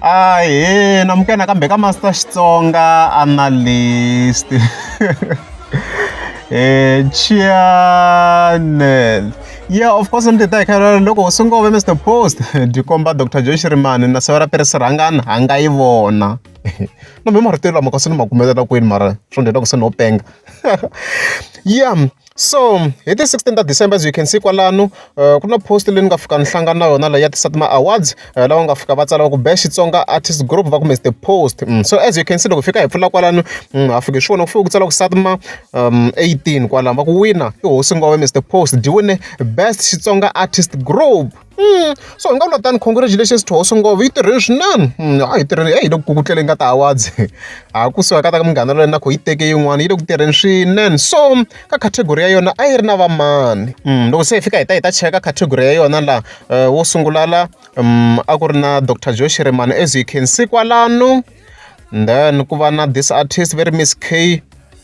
Ahee namukela nakambe ka Master Xitsonga Analyst eh Chianel yeah of course ndzi ta hi khara loko u sungove Mr Post byi komba Dr Joy Shirimani na Sawera Peres Rhangani ha nga yi vona no me marito lama kasi ni ma kumetela kwini mara swo ndlela ku se no penga yeah So hi ti sixteen ta December as you can see kwalano ku na post leyi ni nga fika ni hlangana na yona leyi ya ti-SATMA awards lava nga fika va tsala va ku best Xitsonga artist group va ku Mister Post so as you can see loko hi fika hi pfula kwalano ha fika hi swi vona ku fike ku tsala ku SATMA eighteen kwalano va ku wina i hosi Ngobe Mister Post byi wine best Xitsonga artist group. so hi nga vula tani congratulations to hosi ngopfu yi tirhile swinene hmm, a yi tirhile a yi le ku kukutleleni ka ti-awards ha kusuka ka ta ka munghana loyi na ku yi teke yin'wana yi le ku tirheni swinene so ka category ya yona a yi ri na vamani hmm, loko se hi fika hi ta hi ta cheka category ya yona laha eh, wo sungula la hmm, a ku ri na dr joe shirimani as you can see kwalano then ku va na this artist very miss k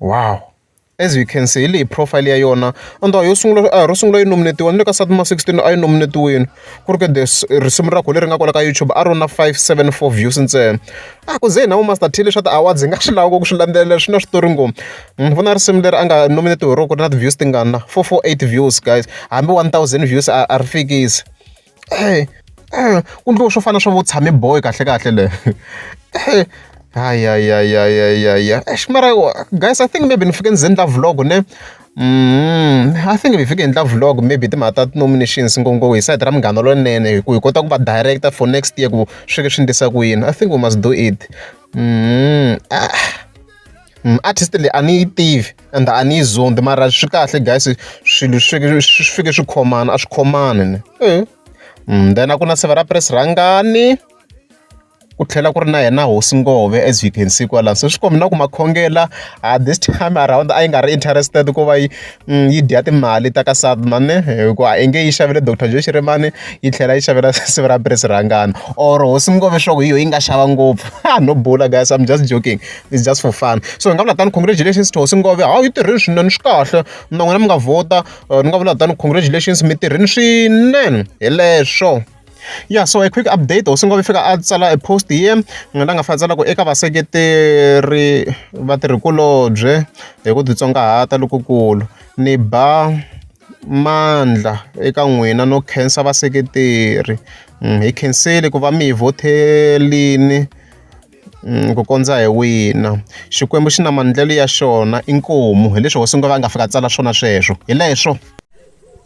Wow! As you can see hi leyi profile ya yona and yo sungula a hi ro sungula yi nominate-iwa na le ka Sathmore sixteen a yi nominate-iwile ku ri ka the risimu ra kona leri nga kwala ka YouTube a ri na five seven four views ntsena a ku ze hi na vo Master Thile swa ti-awards hi nga swi lava ku swi landzelela swi na switori ngopfu ni vona risimu leri a nga nominate-iwa hi rona ku ri na ti-views tingani na four four eight views guys hambi one thousand views a a ri fikisi. ku endliwa swo fana na swa vo tshame boy kahle kahle le hayayayayaya eish mara guys i think maybe ni fike ni ze endla vlog ne Mm, I think if you can endla vlog maybe timhaka ta ti-nominations ngopfu hi side ra munghana lonene hi ku hi kota ku va director for next year ku swi swi ndlisa ku yini I think we must do it mm, ah, mm, artist leyi a ni yi tivi ende a ni yi zondi mara swi kahle guys swilo swi fike swi fike swi khomana a swi khomani ni mm, then a ku na severa press rhangani ku tlhela ku ri na yena hosi ngove as you can see kwalani so swi kombi na ku makhongela uh, this time around a yi nga ri interested ku va yi mm, yi dya timali ta ka sadman hikuva a inge yi xavele dr joe xirimani yi tlhela yi xavela sivi ra pres rhangana or hosi ngove swaku hi yo yi nga xava ngopfu no bula guys i'm just joking it's just for fun so hi nga vula tani congratulations to hosi ngove hawu yi tirhile swinene swi kahle na n'wina mi nga vhota uh, ni nga vula tani congratulations mi tirhile swinene hi leswo ya so a quick update hosi ngove fika a tsala a post hi yena nga la nga fa tsalaka eka vaseketeri va tirhikulobye hi ku titsongahata lokukulu ni ba mandla eka n'wina no khensa vaseketeri mm, hi khensile ku va mi hi vhothelini ku kondza hi wina. Xikwembu xi na maendlelo ya xona inkomu hileswi hosi nga va nga fika a tsala swona sweswo hi leswo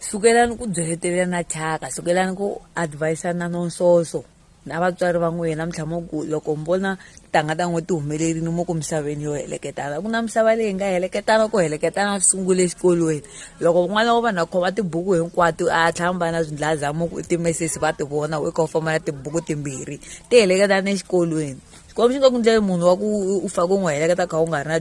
sukelani ku byeletela na thyaka sukelani ku advise-ana no nsoso na vatswari va n'wina na mintlhamo ku loko mi vona tanga ta n'we ti humelerile mo ku misaveni yo heleketana ku na misava leyi nga heleketana ku heleketana swi sungule exikolweni loko n'wana wa vanhu a khoma tibuku hinkwato a tlhela mi va na swindlazamuku i timesesi va ti vona u kha u famba na tibuku timbirhi ti heleketana exikolweni xikwembu xi nga ku ndleli munhu wa ku u fake u n'wi heleketa kha u nga ri na